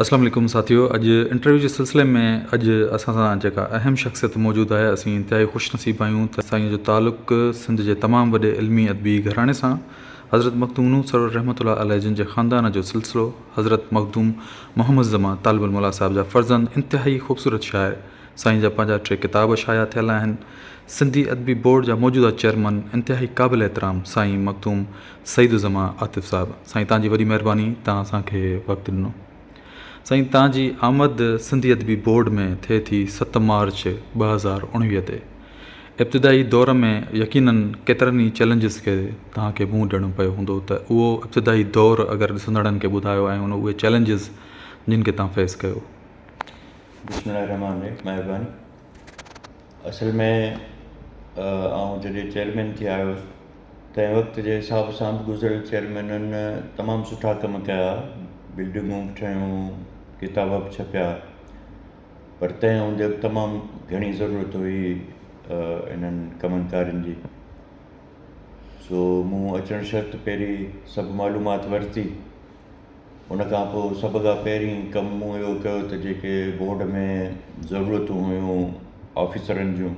السلام عليڪم ساٿيو اڄ انٽرويو جي سلسلي ۾ اڄ اسان سان جيڪا اهم شخصيت موجود آهي اسين انتهائي خوش نصيب آهيون ته سائين جو تعلق سنڌ جي تمام وڏي علمي ادبي گهراڻي سان حضرت مخدوم نوح سرور رحمت الله عليه جن جي خاندان جو سلسلو حضرت مخدوم محمد زمان طالب الموليٰ صاحب جا فرزند انتهائي خوبصورت شاعر سائين جا پنهنجا ٽي ڪتاب شايع ٿيل آهن سنڌي ادبي بورڊ جا موجوده چيئرمن انتهائي قابل احترام سائين مخدوم سعيد الزمان عاطف صاحب سائين تان جي وڏي مهرباني تان اسان کي وقت ڏنو سائين تان جي آمد سنڌي ادبي بورڊ ۾ ٿئي ٿي ست مارچ ٻه هزار اڻويهه تي ابتدائي دور ۾ يقينن ڪيترن ئي چئلينجز کي تان کي منهن ڏيڻو پيو هوندو ته اهو ابتدائي دور اگر ڏسندڙن کي ٻڌايو ۽ ان اهي چئلينجز جن کي تان فيس ڪيو. بسم الله الرحمٰن الرحيم مهرباني اصل ۾ آئون جڏهن چيئرمين ٿي آيو هوس تنهن وقت جي حساب سان به گذريل چيئرمينن تمام سٺا ڪم ڪيا بلڊنگون به ٺهيون ڪتاب به ڇپيا پر تنهن هوندي به تمام گهڻي ضرورت هئي انهن ڪمن ڪارين جي سو مون اچڻ شرط پهري سڀ معلومات ورتي ان کان پوء سڀ کان پهرين ڪم مون اهو ڪيو ته جيڪي بورڊ ۾ ضرورتون هيون آفيسرن جون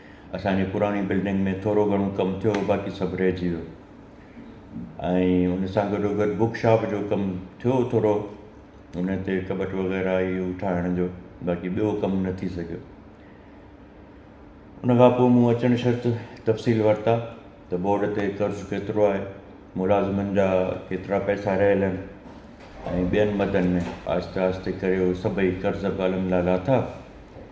اسان جي پراڻي بلڊنگ ۾ ٿورو گهڻو ڪم ٿيو هو باقي سڀ رهجي ويو ۽ ان سان گڏو گڏ بوڪ شاپ جو ڪم ٿيو هو ٿورو ان تي ڪٻٽ وغيره هي هو ٺاهڻ جو باقي ٻيو ڪم نه ٿي سگهيو ان کان پوء مون اچڻ شرط تفصيل ورتا ته بورڊ تي قرض ڪيترو آهي ملازمن جا ڪيترا پئسا رهيل آهن ۽ ٻين مدن ۾ آهستي آهستي ڪري هو سڀئي قرض به الحمد لله لاٿا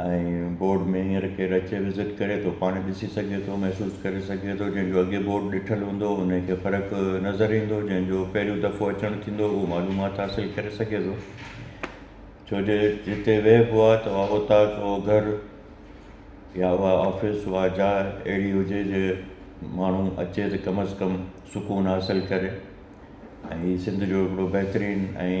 ۽ بورڊ ۾ هينئر ڪير اچي وزٽ ڪري ٿو پاڻ ڏسي سگهي ٿو محسوس ڪري سگهي ٿو جنهن جو اڳي بورڊ ڏٺل هوندو ان کي فرق نظر ايندو جنهن جو پهريون دفعو اچڻ ٿيندو اهو معلومات حاصل ڪري سگهي ٿو ڇو جو جتي ويهبو آهي ته اها اوطاق اهو گهر يا اها آفيس اها جاء اهڙي هجي جي ماڻهو اچي ته ڪم از ڪم سڪون حاصل ڪري ۽ هي سنڌ جو هڪڙو بهترين ۽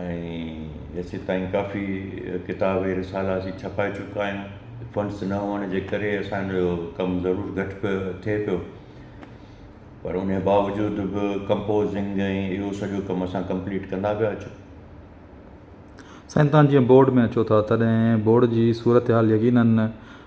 ۽ جيسيتائين ڪافي ڪتاب ۽ رسالا اسين ڇپائي چڪا آهيون فنڊس نه هئڻ جي ڪري اسانجو ڪم ضرور گهٽ پيو ٿئي پيو پر ان باوجود به ڪمپوزنگ ۽ اهو سڄو ڪم اسان ڪمپليٽ ڪندا پيا اچون سائين تان جيئن بورڊ ۾ اچو ٿا تڏهن بورڊ جي صورتحال يقينن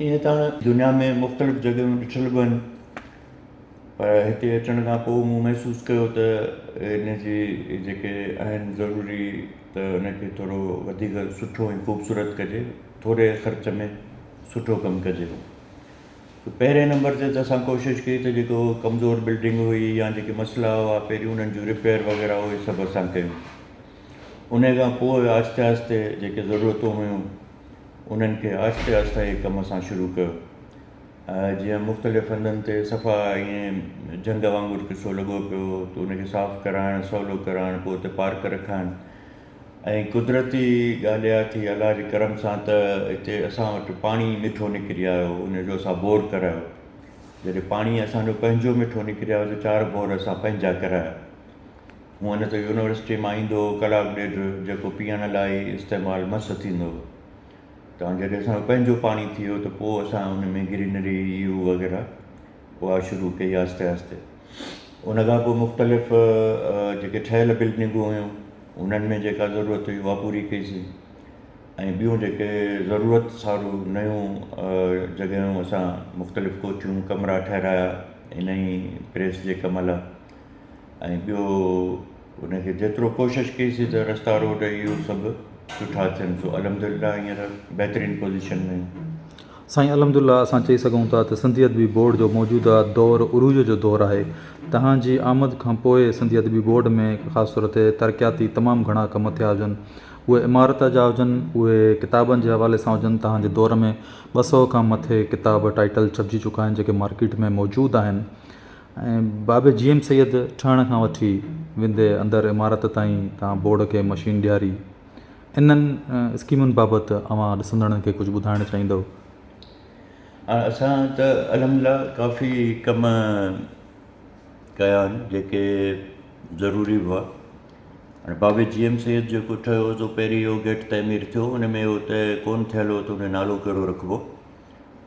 ائين ته هاڻ دنيا ۾ مختلف جڳهيون ڏٺل به آهن پر هتي اچڻ کان پوء مون محسوس ڪيو ته هن جي جيڪي آهن ضروري ته ان کي ٿورو وڌيڪ سٺو ۽ خوبصورت ڪجي ٿوري خرچ ۾ سٺو ڪم ڪجي هو ته پهرين نمبر تي ته اسان ڪوشش ڪئي ته جيڪو ڪمزور بلڊنگ هئي يا جيڪي مسئلا هئا پهريون انهن جون رپيئر وغيره اهي سڀ اسان ڪيون ان کان پوء آهستي آهستي جيڪي ضرورتون هيون انهن کي آهستي آهستي هي ڪم اسان شروع ڪيو جيئن مختلف هنڌن تي صفا ائين جهنگ وانگر قصو لڳو پيو هو ته ان کي صاف ڪرائڻ سولو ڪرائڻ پوء اتي پارڪ رکائڻ ۽ قدرتي ڳالهه اها ٿي الله جي ڪرم سان ته اتي اسان وٽ پاڻي مٺو نڪري آيو ان جو اسان بور ڪرايو جڏهن پاڻي اسانجو پنهنجو مٺو نڪري آيو ته چار بور اسان پنهنجا ڪرايا هونء نه ته يونيورسٽيء مان ايندو هو ڪلاڪ ڏيڍ جيڪو پيئڻ لاء ئي استعمال مس ٿيندو هو تان جڏهن اسان جو پنهنجو پاڻي ٿي ويو ته پوء اسان ان ۾ گرينري يو وغيره اها شروع ڪئي آهستي آهستي ان کان پوء مختلف جيڪي ٺهيل بلڊنگون هيون انهن ۾ جيڪا ضرورت هئي اها پوري ڪئيسين ۽ ٻيون جيڪي ضرورت سارو نيون جڳهيون اسان مختلف ڪوٺيون ڪمرا ٺهرايا انهي پريس جي ڪم لاء ۽ ٻيو ان کي جيترو ڪوشش ڪئي سي ته رستا روڊ اهو سڀ سٺا ٿين سو الحمد لله هينئر بهترين پوزيشن ۾ آهيون سائين الحمد لله اسان چئي سگهون ٿا ته سنڌي ادبي بورڊ جو موجوده دور عروج جو دور آهي توهان جي آمد کان پوء سنڌي ادبي بورڊ ۾ خاص طور تي ترقياتي تمام گهڻا ڪم ٿيا هجن اهي عمارت جا هجن اهي ڪتابن جي حوالي سان هجن توهان جي دور ۾ ٻه سئو کان مٿي ڪتاب ٽائيٽل ڇپجي چڪا آهن جيڪي مارڪيٽ ۾ موجود آهن ۽ بابي جي ايم سيد ٺهڻ کان وٺي ويندي اندر عمارت تائين تان بورڊ کي مشين ڏياري انهن اسڪيمن بابت اوهان ڏسندڙن کي ڪجهه ٻڌائڻ چاهيندؤ؟ اسان ته الحمدلله ڪافي ڪم ڪيا آهن جيڪي ضروري هئا هاڻي بابي جي ايم سيد جيڪو ٺهيو هو سو پهرين اهو گيٽ تعمير ٿيو ان ۾ هو ته ڪون ٿيل هو ته ان جو نالو ڪهڙو رکبو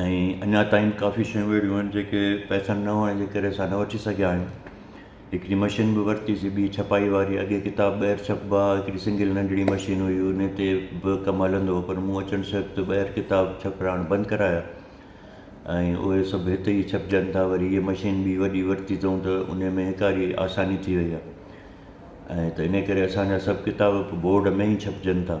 ۽ اڃا تائين ڪافي شيون اهڙيون آهن جيڪي پئسن نه هئڻ جي ڪري اسان نه وٺي سگهيا آهيون هڪڙي مشين به ورتيسي ٻي ڇپائي واري اڳي ڪتاب ٻاهر ڇپبا هئا هڪڙي سنگل ننڍڙي مشين هئي ان تي به ڪم هلندو هو پر مون اچڻ سبب تي ٻاهر ڪتاب ڇپرائڻ بند ڪرايا ۽ اهي سڀ هتي ئي ڇپجن ٿا وري هيء مشين ٻي وڏي ورتي اٿئون ته ان ۾ هيڪاري آساني ٿي وئي آهي ۽ ته ان ڪري اسان جا سڀ ڪتاب بورڊ ۾ ئي ڇپجن ٿا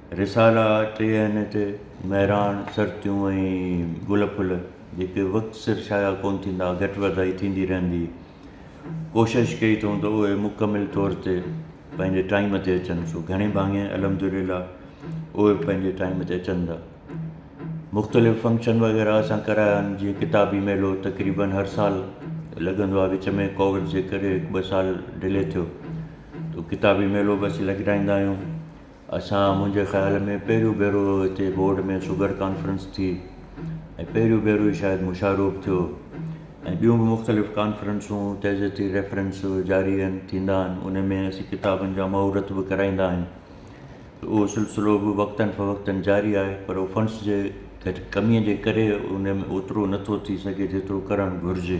رسالا ٽي آهن هتي، مهراڻ، سرتيون ۽ گل ڦل، جيڪي وقت سر شايع ڪونه ٿيندا، گهٽ وڌائي ٿيندي رهندي. ڪوشش ڪئي اٿئون ته اهي مڪمل طور تي پنهنجي ٽائيم تي اچن، سو گهڻي ڀاڱي الحمدلله اهي پنهنجي ٽائيم تي اچن ٿا. مختلف فنڪشن وغيره اسان ڪرايا آهن، جيئن ڪتابي ميلو تقريبن هر سال لڳندو آهي، وچ ۾ ڪووڊ جي ڪري هڪ ٻه سال ڊلي ٿيو، ته ڪتابي ميلو به اسين لڳرائيندا آهيون. اسان منهنجي خيال ۾ پهريون ڀيرو هتي بورڊ ۾ شگر ڪانفرنس ٿي ۽ پهريون ڀيرو ئي شايد مشاروب ٿيو ۽ ٻيون به مختلف ڪانفرنسون تعزيتي ريفرنس جاري آهن ٿيندا آهن ان ۾ اسين ڪتابن جا مهورت به ڪرائيندا آهيون ته اهو سلسلو به وقتن فوقتن جاري آهي پر اهو فنڊس جي گهٽ ڪميء جي ڪري ان ۾ اوترو نٿو ٿي سگهي جيترو ڪرڻ گهرجي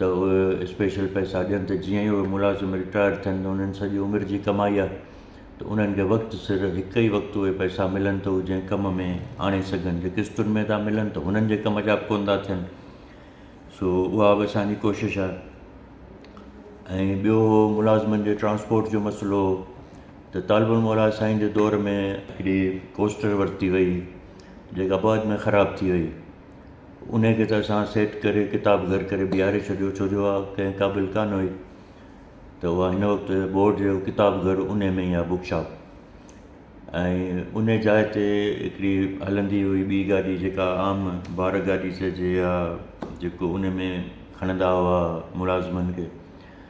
ته اهي اسپيشل پئسا ڏين ته جيئن ئي اهي ملازم رٽائرڊ ٿين ته انهن سڄي عمر جي ڪمائي آهي ته انهن کي وقت سر هڪ ئي وقت اهي پئسا ملن ته هو جنهن ڪم ۾ آڻي سگهن جي قسطن ۾ ٿا ملن ته هنن جي ڪم جا به ڪونه ٿا ٿين سو اها به اسان جي ڪوشش آهي ۽ ٻيو هو ملازمن جي ٽرانسپورٽ جو مسئلو هو ته طالب الموليٰ سائين جي دور ۾ هڪڙي ڪوسٽر ورتي وئي جيڪا بعد ۾ خراب ٿي وئي انهيء کي ته اسان سيٽ ڪري ڪتاب گهر ڪري بيهاري ڇڏيو ڇو جو اها ڪنهن قابل ڪانه هئي ته اها هن وقت بورڊ جو ڪتاب گهر انهيء ۾ ئي آهي بوڪ شاپ ۽ انهيء جاء تي هڪڙي هلندي هئي ٻي گاڏي جيڪا عام بار گاڏي چئجي يا جيڪو ان ۾ کڻندا هئا ملازمن کي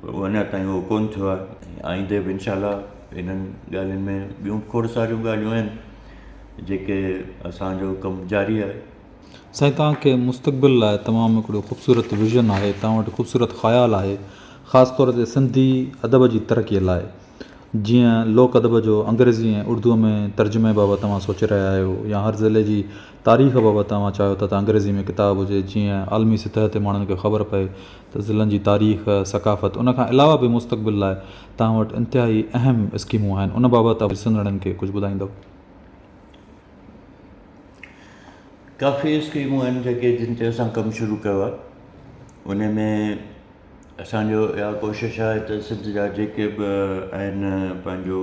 پر اڃا تائين اهو ڪونه ٿيو آهي ۽ آئيندي به انشاء الله انهن ڳالهين ۾ ٻيون کوڙ ساريون ڳالهيون آهن جيڪي اسانجو ڪم جاري آهي سائين توهان کي مستقبل لاء تمام هڪڙو خوبصورت ويزن آهي توهان وٽ خوبصورت خيال آهي خاص طور تي سنڌي ادب جي ترقي لاء جيئن لوڪ ادب جو انگريزي ۽ اردو ۾ ترجمي بابت توهان سوچي رهيا آهيو يا هر ضلعي جي تاريخ بابت اوهان چاهيو ٿا ته انگريزي ۾ ڪتاب هجي جيئن عالمي سطح تي ماڻهن کي خبر پئي ته ضلعن جي تاريخ، ثقافت ان کان علاوه به مستقبل لاء توهان وٽ انتهائي اهم اسڪيمون آهن ان بابت اوهان ڏسندڙن کي ڪجهه ٻڌائيندؤ. ڪافي اسڪيمون آهن جيڪي جن تي اسان ڪم شروع ڪيو آهي ان ۾ اسانجو اها ڪوشش آهي ته سنڌ جا جيڪي به آهن پنهنجو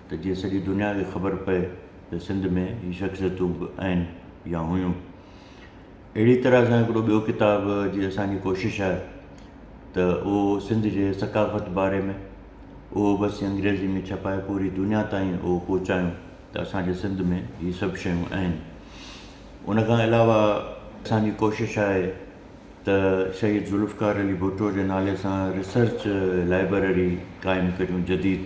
ته جيئن سڄي دنيا کي خبر پئي ته سنڌ ۾ هي شخصيتون به آهن يا هيون. اهڙي طرح سان هڪڙو ٻيو ڪتاب جي اسان جي ڪوشش آهي ته اهو سنڌ جي ثقافت باري ۾ اهو به اسين انگريزي ۾ ڇپائي پوري دنيا تائين اهو پهچايون ته اسان جي سنڌ ۾ هي سڀ شيون آهن. ان کان علاوه اسان جي ڪوشش آهي ته شهيد ذوالفقار علي ڀٽو جي نالي سان ريسرچ لائبرري قائم ڪريون جديد.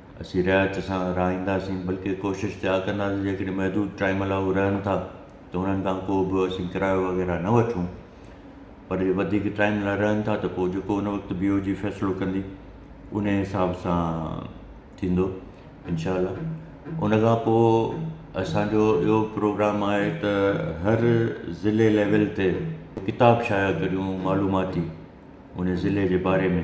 اسين رعايت سان رهائينداسين بلڪه ڪوشش ته اها ڪنداسين جيڪڏهن محدود ٽائيم لاء هو رهن ٿا ته انهن کان ڪو به اسين ڪرايو وغيره نه وٺون پر جي وڌيڪ ٽائيم لاء رهن ٿا ته پوء جيڪو ان وقت بي او جي فيصلو ڪندي انهي حساب سان ٿيندو انشاء الله ان کان پوء اسانجو اهو پروگرام آهي ته هر ضلعي ليول تي ڪتاب شايع ڪريون معلوماتي انهي ضلعي جي باري ۾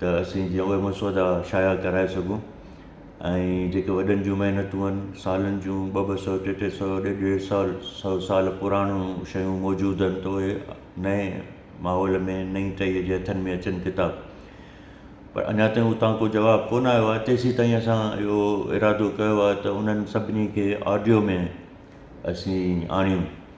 ته اسين جيئن اهي مسودا شايع ڪرائي سگهون ۽ جيڪي وڏن جون محنتون آهن سالن جون ٻه ٻه سؤ ٽي ٽي سؤ ڏيڍ ڏيڍ سال سؤ سال پراڻيون شيون موجود آهن ته اهي نئين ماحول ۾ نئين ٽهيء جي هٿن ۾ اچن ڪتاب پر اڃا تائين اتان ڪو جواب ڪون آيو آهي تيسين تائين اسان اهو ارادو ڪيو آهي ته انهن سڀني کي آڊيو ۾ اسين آڻيون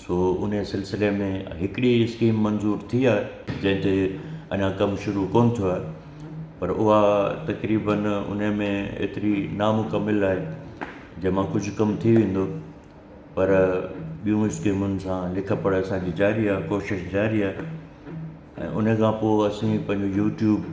سو انهيء سلسلي ۾ هڪڙي اسڪيم منظور ٿي آهي جنهن تي اڃا ڪم شروع ڪون ٿيو آهي پر اها تقريباً انهيء ۾ ايتري نامڪمل آهي جنهن مان ڪجهه ڪم ٿي ويندو پر ٻيون اسڪيمن سان لک پڙهه اسانجي جاري آهي ڪوشش جاري آهي ۽ انهيء کان پوء اسين پنهنجو يوٽيوب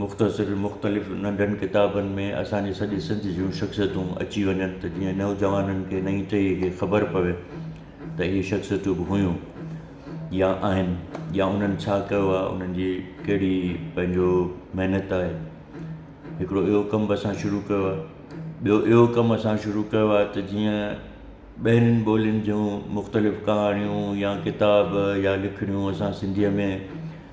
مختصر مختلف ننڍن ڪتابن ۾ اسان جي سڄي سنڌ جون شخصيتون اچي وڃن ته جيئن نوجوانن کي نئين ٽهيء کي خبر پوي ته اهي شخصيتون به هيون يا آهن يا انهن ڇا ڪيو آهي انهن جي ڪهڙي پنهنجو محنت آهي هڪڙو اهو ڪم به اسان شروع ڪيو آهي ٻيو اهو ڪم اسان شروع ڪيو آهي ته جيئن ٻين ٻولين جون مختلف ڪهاڻيون يا ڪتاب يا لکڻيون اسان سنڌيء ۾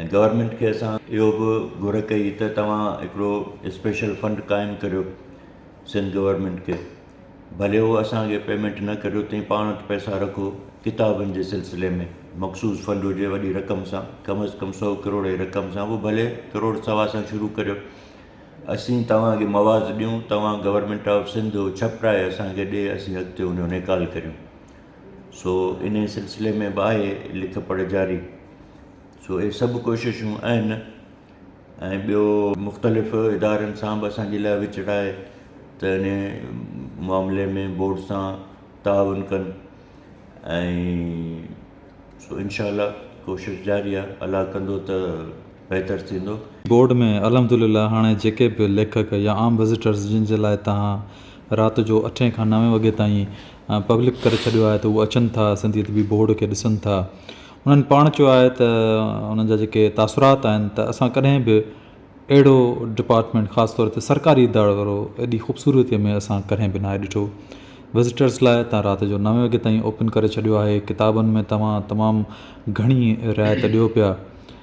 ۽ گورنمينٽ کي اسان اهو به گهر ڪئي ته توهان هڪڙو اسپيشل فنڊ قائم ڪريو سنڌ گورنمينٽ کي ڀلي هو اسانکي پيمينٽ نه ڪريو تنهن پاڻ وٽ پئسا رکو ڪتابن جي سلسلي ۾ مخصوص فنڊ هجي وڏي رقم سان ڪم از ڪم سو ڪروڙ جي رقم سان هو ڀلي ڪروڙ سوا سان شروع ڪريو اسين توهانکي مواز ڏيون توهان گورنمينٽ آف سنڌ ڇپرائي اسانکي ڏي اسين اڳتي ان جو نيڪال ڪريون سو انهيء سلسلي ۾ به آهي لک پڙهه جاري. سو اهي سڀ ڪوششون آهن ۽ ٻيو مختلف ادارن سان به اسان جي لاء وچڙ آهي ته انهيء معاملي ۾ بورڊ سان تعاون ڪن ۽ سو انشاء الله ڪوشش جاري آهي الله ڪندو ته بهتر ٿيندو. بورڊ ۾ الحمدلله هاڻي جيڪي به ليکڪ يا عام وزيٽرز جن جي لاء توهان رات جو اٺين کان نوين وڳي تائين پبلڪ ڪري ڇڏيو آهي ته اهي اچن ٿا سنڌي ادبي بورڊ کي ڏسن ٿا انهن پاڻ چيو آهي ته انهن جا جيڪي تاثرات آهن ته اسان ڪڏهن به اهڙو ڊپارٽمينٽ خاص طور تي سرڪاري ادارو ايڏي خوبصورتي ۾ اسان ڪڏهن به ناهي ڏٺو وزيٽرز لاء تان رات جو نوين وڳي تائين اوپن ڪري ڇڏيو آهي ڪتابن ۾ توهان تمام گهڻي رعايت ڏيو پيا.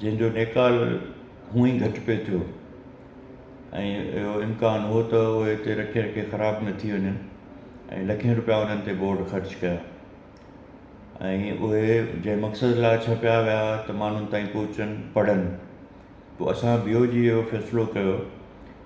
جنهن جو نيڪال هونء ئي گهٽ پئي ٿيو ۽ اهو امڪان هو ته اهي اتي رکي رکي خراب نه ٿي وڃن ۽ لکين روپيا انهن تي بورڊ خرچ ڪيا ۽ اهي جنهن مقصد لاء ڇپيا ويا هئا ته ماڻهن تائين پهچن پڙهن پوء اسان بي او جي اهو فيصلو ڪيو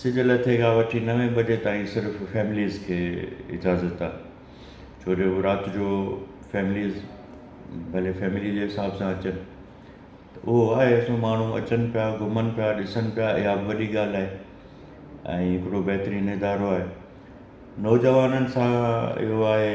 سج لٿي کان وٺي نوين بجي تائين صرف فيمليز کي اجازت آ ڇو جو رات جو فيمليز ڀلي فيملي جي حساب سان اچن ته اهو آهي اسو ماڻهو اچن پيا گهمن پيا ڏسن پيا اها بي وڏي ڳالهه آهي ۽ هڪڙو بهترين ادارو آهي نوجوانن سان اهو آهي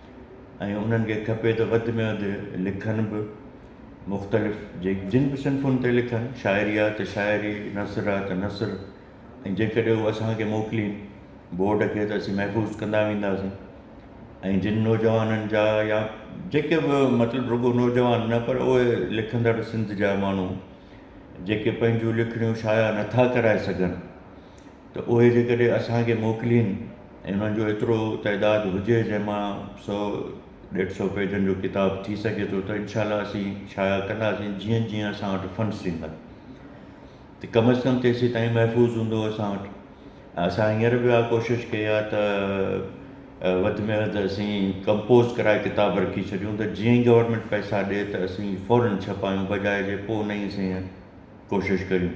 ۽ انهن کي کپي ته وڌ ۾ وڌ لکن به مختلف جن به صنفن تي لکن شاعري آ ته شاعري نثر آ ته نثر ۽ جيڪڏهن هو اسان کي موڪلين بورڊ کي ته اسين محفوظ ڪندا وينداسين ۽ جن نوجوانن جا يا جيڪي به مطلب رڳو نوجوان نه پر اهي لکندڙ سنڌ جا ماڻهو جيڪي پنهنجون لکڻيون شايع نٿا ڪرائي سگهن ته اهي جيڪڏهن اسان کي موڪلين ۽ انهن جو ايترو تعداد هجي جنهن مان سؤ ڏيڍ سؤ پيجن جو ڪتاب ٿي سگهي ٿو ته انشاء الله اسين شايع ڪنداسين جيئن جيئن اسان وٽ فنڊس ٿيندا ته ڪم از ڪم تيسين تائين محفوظ هوندو اسان وٽ ۽ اسان هينئر به اها ڪوشش ڪئي آهي ته وڌ ۾ وڌ اسين ڪمپوز ڪرائي ڪتاب رکي ڇڏيون ته جيئن ئي گورنمينٽ پئسا ڏي ته اسين فوراً ڇپايون بجاء جي پوء نئين سين ڪوشش ڪريون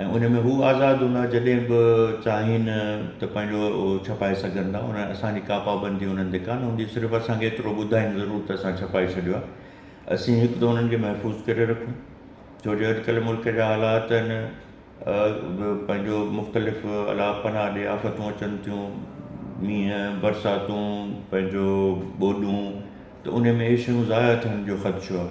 ۽ ان ۾ هو آزاد هوندا جڏهن به چاهين ته پنهنجو ڇپائي سگهن ٿا ان اسان جي ڪا پابندي انهن تي ڪانه هوندي صرف اسان کي ايترو ٻڌائين ضرور ته اسان ڇپائي ڇڏيو آهي اسين هڪ ته انهن کي محفوظ ڪري رکون ڇو جو اڄڪلهه ملڪ جا حالات ان پنهنجو مختلف الا پناهه ڏي آفتون اچن ٿيون مينهن برساتون پنهنجو ٻوڏون ته ان ۾ اهي شيون ضايع ٿيڻ جو خدشو آهي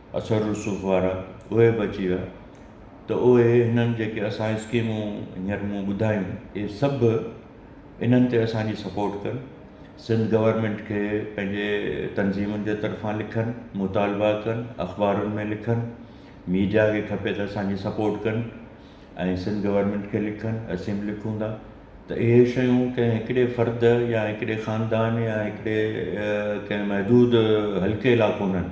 اثر رسوخ وارا اهي به اچي ويا ته اهي هنن جيڪي اسان اسڪيمون هينئر مون ٻڌايون اهي سڀ انهن تي اسانجي سپورٽ ڪن سنڌ گورنمينٽ کي پنهنجي تنظيمن جي طرفان لکن مطالبا ڪن اخبارن ۾ لکن ميڊيا کي کپي ته اسانجي سپورٽ ڪن ۽ سنڌ گورنمينٽ کي لکن اسين به لکون ٿا ته اهي شيون ڪنهن هڪڙي فرد يا هڪڙي خاندان يا هڪڙي ڪنهن محدود حلقي لا ڪونهن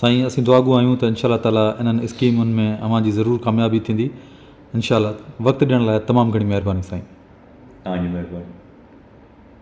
سائين اسين دعاگو آهيون ته انشاءالله تعالي انهن اسڪيمن ۾ اوهان جي ضرور ڪاميابي ٿيندي انشاءالله وقت ڏيڻ لاء تمام گهڻي مهرباني سائين. توهان جي مهرباني.